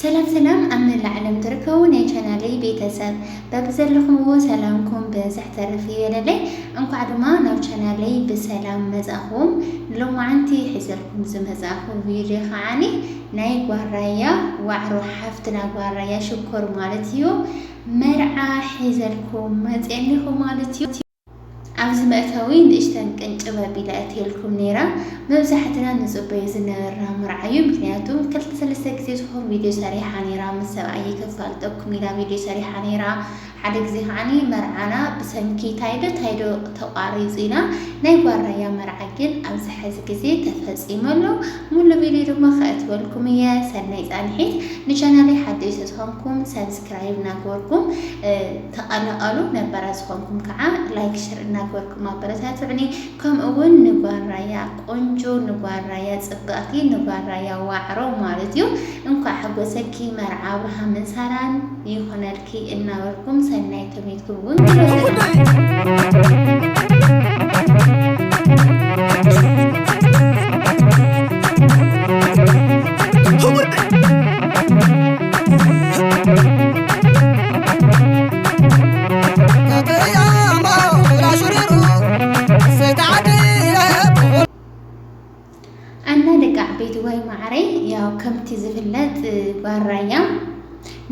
ሰላም ሰላም ኣብ መላእ ዓለም ትርከቡ ናይ ቻናለይ ቤተሰብ በብዘለኹምዎ ሰላምኩም ብዝሕ ተረፍ ይበለለይ። እንኳዕ ድማ ናብ ቻናለይ ብሰላም መጻኹም። ሎማዓንቲ ሒዘልኩም ዝመጻኹ ቪድዮ ከዓኒ ናይ ጓራያ ዋዕሮ ሓፍትና ጓራያ ሽኮር ማለት እዩ መርዓ ሒዘልኩም መፅኒኹ ማለት እዩ። ኣብዚ መእተዊ ንእሽተን ቅንጭብ ኣቢለ ኣእትየልኩም ነይረ። መብዛሕትና ንጽበዮ ዝነበርና መርዓ እዩ፣ ምክንያቱ ክልተ ሰለስተ ግዜ ዝኮን ቪድዮ ሰሪሓ ነይራ፣ ምስ ሰብኣየይ ከፋልጠኩም ኢላ ቪድዮ ሰሪሓ ነይራ፣ ሓደ ግዜ ከዓኒ መርዓና ብሰንኪ ታይዶ ታይዶ ተቋሪጹ ኢና፣ ናይ ጓል ራያ መርዓ ግን ኣብዚ ሐዚ ግዜ ተፈጺሙ ኣሎ፣ ሙሉ ቪድዮ ድማ ከእትወልኩም እየ፣ ሰናይ ጻንሒት፣ ንቻናለይ ሓደሽቲ ዝኮንኩም ሳብስክራይብ ናገበርኩም። ተቀላቀሉ ነባራት ዝኮንኩም ከዓ ላይክ ሸር እናገበርኩም ኣበረታትዑኒ ከምኡ እውን ንጓል ራያ ቆንጆ ንጓል ራያ ፅብቅቲ ንጓል ራያ ዋዕሮ ማለት እዩ እንኳዕ ሓጎሰኪ መርዓ ኣብርሃምን ሳራን ይኩነልኪ እናበልኩም ሰናይ ተመይትኩም እውን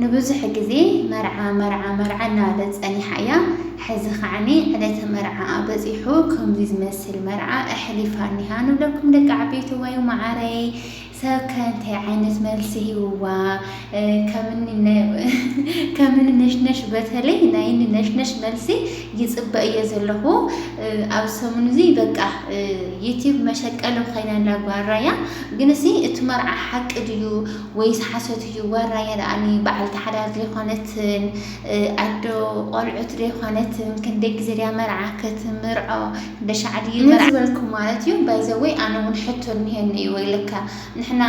ንብዙሕ ግዜ መርዓ መርዓ መርዓ እናበለ ፀኒሓ እያ ሕዚ ከዓኒ ዕለተ መርዓ በፂሑ ከምዚ ዝመስል መርዓ ኣሕሊፋ እኒሃ ንብለኩም ደቂ ዓበይቲ ወይ ማዓረይ ሰብ ከ እንታይ ዓይነት መልሲ ሂብዋ ከምኒ ነሽነሽ በተለይ ናይኒ ነሽነሽ መልሲ ይጽበ እየ ዘለኹ ኣብዚ ሰሙን እዚ በቃ ዩቲብ መሸቀሊ ኮይና ኣላ ጓል ራያ ግንሲ እቲ መርዓ ሓቂ ድዩ ወይስ ሓሶት እዩ ጓል ራያ ደኣኒ በዓልቲ ሓዳር ዘይኮነትን ኣዶ ቆልዑት ዘይኮነትን ክንደይ ግዜ ድያ መርዓ ክትምርዖ በሻዕ ድዩ መርዓ። ነዚ በልኩ ማለት እዩ ባይዘወይ ኣነ ውን ሕቶ እኒሀኒ እዩ ወይለካ ንሕና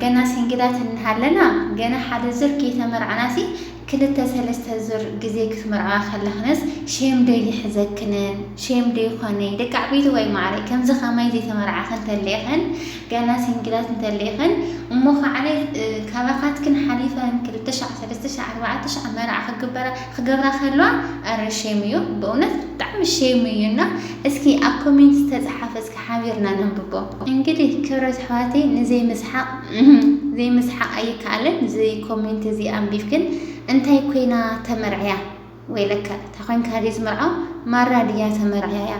ገና ሲንግላት እንሃለና ገና ሓደ ዙር ከይተመርዓናሲ ክልተ ሰለስተ ዙር ግዜ ክትምርዐዋ ከለክንስ ሼም ዶ ይሕዘክንን ሼም ዶ ይኮነይ ደቂ ዓበይትዋይ ማዓረይ ከምዚ ከማይ ዘይተመርዓክ እንተለክን ገና ሲንግላት እንተለክን እሞ ካዓነ ካባካትክን ሓሊፈን ክልተ ሻዕ ሰለስተ ሻዕ ኣርባዕተ ሻዕ መርዓ ክግበራ ክገብራ ከለዋ ኣረ ሼም እዩ በእውነት ብጣዕሚ ሼም እዩ እና እስኪ ኣብ ኮሜንት ዝተፀሓፈ እስኪ ሓቢርና ነንብቦ። እንግዲህ ክብረት ኣሕዋተይ ንዘይ ምስሓቅ ዘይ ምስሓቅ ኣይከኣልን እዚ ኮሜንት እዚ ኣንቢብክን እንታይ ኮይና ተመርዕያ ወይለከ እታ ኮንካ ድዩ ዝምርዖ ማራ ድያ ተመርዕያ።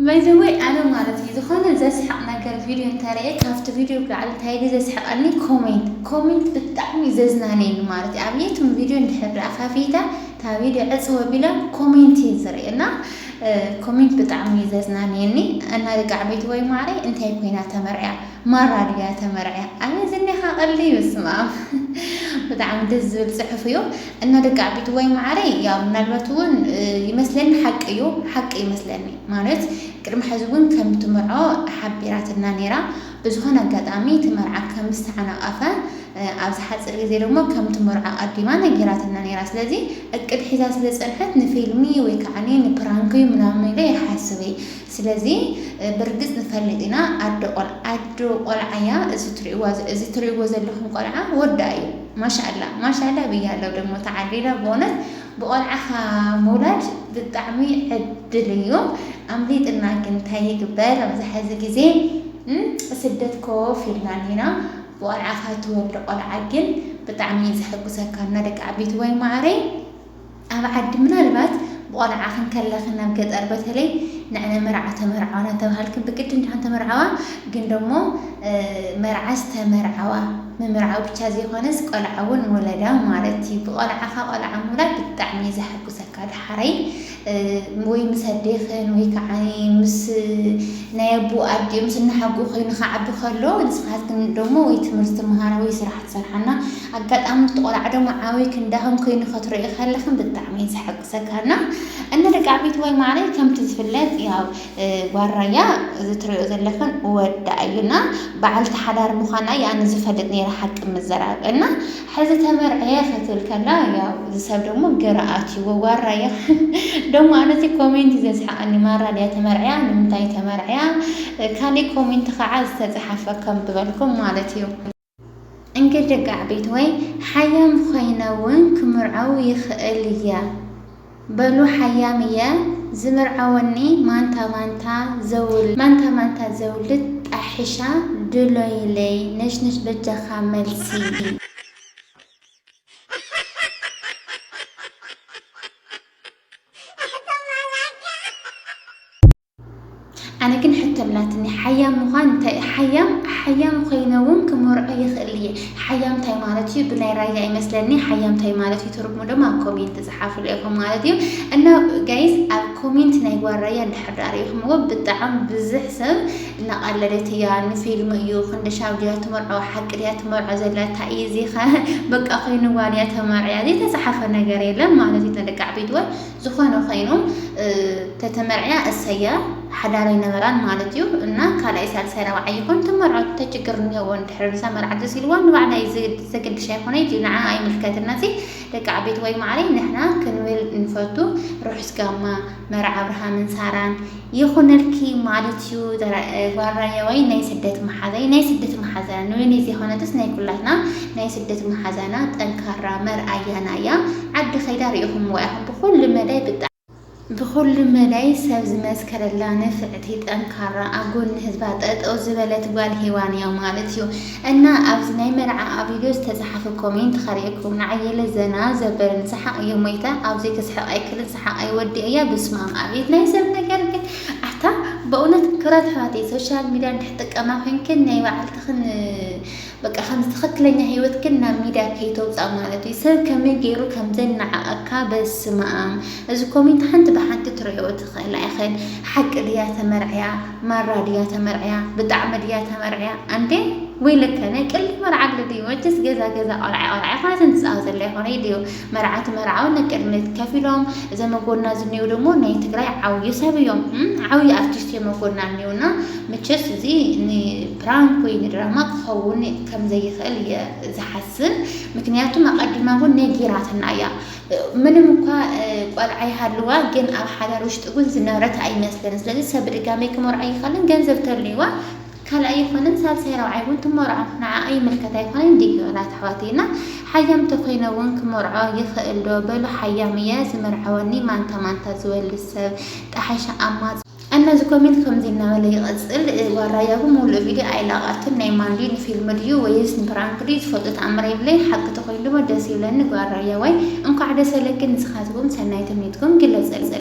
ባይ ዘ ወይ ኣነ ማለት እዩ ዝኮነ ዘስሕቅ ነገር ቪድዮ እንተ ሪኤ ካብቲ ቪድዮ ብላዕሊ እንታይ ድዩ ዘስሕቀኒ ኮሜንት ኮሜንት ብጣዕሚ እዩ ዘዝናንየኒ ማለት እዩ ኣብ የቱም ቪድዮ እንድሕር ደኣ ከፊተ እታ ቪድዮ ዕጽው ኣቢላ ኮሜንት እየ ዝርኢ እና ኮሜንት ብጣዕሚ እዩ ዘዝናንየኒ እና ደቂ ዓበይቲ ወይ ማዕረይ እንታይ ኮይና ተመርዕያ ማራ ድያ ተመርዕያ ኣበይ ዝኒኻ ቀልዲ እዩ ስማም ብጣዕሚ ደስ ዝብል ጽሑፍ እዩ እና ደቂ ዓቢትወይ ማዓረይ ያው ምናልባት እውን ይመስለኒ ሓቂ እዩ ሓቂ ይመስለኒ ማለት ቅድሚ ሐዚ እውን ከም ትምርዖ ሓቢራትና ነይራ ብዝኾነ ኣጋጣሚ እቲ መርዓ ከም ዝተዓናቀፈ ኣብዚ ሓፂር ግዜ ደግሞ ከም ትምርዖ ኣቀዲማ ነጊራትና ነይራ ስለዚ እቅድ ሒዛ ስለ ዝፀንሐት ንፊልሚ ወይ ከዓ ንፕራንክ እዩ ምናምን ኢለ ይሓስብ እየ ስለዚ ብርግፅ ንፈልጥ ኢና ኣደ ቆልዓ ኣደ ቆልዓ እያ እዚ ትሪእዋ እዚ ትሪእዎ ዘለኹም ቆልዓ ወዳ እዩ ማሻኣላህ ማሻኣላህ ብያለሁ ደሞ ተዓዲላ ብእውነት ብቆልዓኻ ምውላድ ብጣዕሚ ዕድል እዩ ኣምሊጥና ግን ታይ ይግበር ኣብዚ ሐዚ ግዜ ስደት ኮፍ ኢልና እኒና ብቆልዓኻ ትወልድ ቆልዓ ግን ብጣዕሚ እዩ ዘሐጉሰካ እና ደቂ ዓበይቲ ዋይ ማዓረይ ኣብ ዓዲ ምናልባት ብቆልዓኽን ከለኽን ናብ ገጠር በተለይ ንዕነ መርዓ ተመርዓዋ ናተብሃልክን ብግዲ እንዲኽን ተመርዓዋ ግን ደሞ መርዓ ዝተመርዓዋ ምምርዓው ብቻ ዘይኾነስ ቆልዓ እውን ወለዳ ማለት እዩ ብቆልዓኻ ቆልዓ ምውላድ ብጣዕሚ እዩ ዘሐጉሰካ ደሓረይ ወይ ምስ ኣዴኽን ወይ ክዓ ምስ ናይ ኣቡኡ ኣዲኡ ምስ እናሓጉኡ ኮይኑ ክዓቢ ከሎ ንስኻትክን ደሞ ወይ ትምህርቲ ትምሃራ ወይ ስራሕ ትሰርሓ እና ኣጋጣሚ እቲ ቆልዓ ደሞ ዓብይ ክንዳኹም ኮይኑ ከትሪእዮ ከለኽን ብጣዕሚ እዩ ዘሐጉሰካ እና እና ደቂ ዓበይቲ ወይ ማዕረይ ከምቲ ዝፍለጥ ያው ጓል ራያ እዚ ትሪኦ ዘለኽን ወዳ እዩ እና በዓልቲ ሓዳር ምዃና እያ ኣነ ዝፈልጥ ነይረ ሓቂ ምዝራብ እና ሕዚ ተመርዕየ ክትብል ከላ ያው እዚ ሰብ ደሞ ግራ ኣትይዎ ዋራ እያ ደሞ ኣነ እቲ ኮሜንት እዩ ዘስሓቀኒ ማራ ድያ ተመርዕያ ንምንታይ ተመርዕያ ካሊእ ኮሜንት ከዓ ዝተፅሓፈ ከም ዝበልኩም ማለት እዩ እንግዲህ ደቂ ዓበይቲ ወይ ሓያም ኮይነ እውን ክምርዐው ይኽእል እያ። በሉ ሓያም እየ ዝምርዓወኒ ማንታ ማንታ ዘውልድ። ማንታ ማንታ ዘውልድ ጣሒሻ ድሎይለይ ነሽነሽ በጃኻ መልሲ። ኣነ ግን ሕቶ ኣላትኒ ሓያም ምዃን እንታይ እዩ? ሓያም ሓያም ኮይነ እውን ክመርዖ ይኽእል እየ። ሓያም እንታይ ማለት እዩ? ብናይ ራያ ይመስለኒ ሓያም እንታይ ማለት እዩ ትርጉሙ ድማ ኣብ ኮሜንት ዝሓፍሉ ኢኹም ማለት እዩ። እና ጋይስ ኣብ ኮሜንት ናይ ጓል ራያ እንድሕር ዳኣ ሪኢኹምዎ ብጣዕሚ ብዙሕ ሰብ እናቐለደት እያ ንፊልም እዩ ክንደሻብ ድያ ትመርዖ ሓቂ ድያ ትመርዖ ዘላ እንታይ እዩ እዚኸ በቃ ኮይንዋ ድያ ተመርዕያ ዘይተፅሓፈ ነገር የለን ማለት እዩ ተደቃዕ ቤትዋ ዝኾነ ኾይኑ ተተመርዕያ እሰያ ሓዳር ኣይነበራን ማለት እዩ እና ካልኣይ ሳልሳይ ራብዓይ ይኹን ትመርዖ ተችግር እኒሄዎ እንድሕር ንሳ መርዓ ደስ ኢልዋ ንባዕላ እዩ ዘገድሻ ይኾነ እዩ ንዓ ኣይምልከትና እዚ ደቂ ዓበይቲ ወይ ማዕረይ ንሕና ክንብል ንፈቱ ርሑስ ጋማ መርዓ ኣብርሃምን ሳራን ይኹነልኪ ማለት እዩ ጓል ራያዋይ ናይ ስደት መሓዛይ ናይ ስደት መሓዛና ንበይነይ ዘይኮነትስ ናይ ኩላትና ናይ ስደት መሓዛና ጠንካራ መርኣያና እያ ዓዲ ከይዳ ርኢኹምዋ ኢኹም ብኹሉ መዳይ ብጣዕሚ ብኹሉ መዳይ ሰብ ዝመስከረላ ንፍዕቲ ጠንካራ ኣብ ጎኒ ህዝባ ጠጠው ዝበለት ጓል ሄዋን እያ ማለት እዩ እና ኣብዚ ናይ መርዓ ኣብ ቪድዮ ዝተፅሓፈ ኮሜንት ከሪእኩም ንዓየለ ዘና ዘበለን ሰሓቕ እየ ሞይታ ኣብዚ ክስሕቕ ኣይክልን ሓቀይ ወዲኤያ ብስማም ኣቤት ናይ ሰብ ነገር ግን ኣታ በእውነት ክብራት ኣሕዋተይ ሶሻል ሚድያ እንድሕ ጥቀማ ኮይንክን ናይ በዓልትኽን በቃ ከምዚ ትኽክለኛ ሂወትክን ናብ ሚድያ ከይተውፃእ ማለት እዩ ሰብ ከመይ ገይሩ ከምዘናዓቀካ በስማም እዚ ኮሜንት ሓንቲ ብሓንቲ ትሪዕኦ ትኽእላ ኢኽን ሓቂ ድያ ተመርዕያ ማራ ድያ ተመርዕያ ብጣዕሚ ድያ ተመርዕያ ኣንዴ ወይ ለከ ናይ ቅልድ መርዓ ኣሎ ድዩ መቸስ ገዛ ገዛ ቆልዓ ቆልዓ ይኾነት ንፃወተላ ይኾነ ድዩ መርዓት መርዓውን ነቅድሚት ከፍ ኢሎም እዘም ኣብ ጎድና ዝኔው ደሞ ናይ ትግራይ ዓውዪ ሰብ እዮም ዓውዪ ኣርቲስት እዮም ኣብ ጎድና እኔው እና መቸስ እዚ ን ፕራንክ ወይ ንድራማ ክኸውን ከም ዘይኽእል እየ ዝሓስብ ምክንያቱም ኣቀዲማ እውን ነጊራትና እያ ምንም እኳ ቆልዓ ይሃልዋ ግን ኣብ ሓዳር ውሽጢ እውን ዝነብረት ኣይመስልን ስለዚ ሰብ ብድጋሜ ክመርዖ ኣይኽእልን ገንዘብ ተልይዋ ካልኣይ ኣይኮነን ሳልሳይ ራብዓይ ውን ትመርዖ ንዓኣ ይምልከት ኣይኮነን ድዩ ኣላት ኣሕዋተይ እና ሓያም ተኮይነ ውን ክመርዖ ይክእል ዶ በሉ ሓያም እየ ዝምርዐወኒ ማንታ ማንታ ዝወልድ ሰብ ጠሓሸ ኣማ እና እዚ ኮሜንት ከምዚ እናበለ ይቅፅል ጓል ራያ ግን ሙሉእ ቪድዮ ኣይለቀቀትን ናይ ማን ድዩ ንፊልም ድዩ ወይስ ንፕራንክ ድዩ ዝፈልጦ ተኣምር የብለይን ሓቂ ተኮይኑ ድማ ደስ ይብለኒ ጓል ራያዋይ እንኳዕ ደሰለኪ ንስካትኩም ሰናይ ትምኒትኩም ግለፅለይ።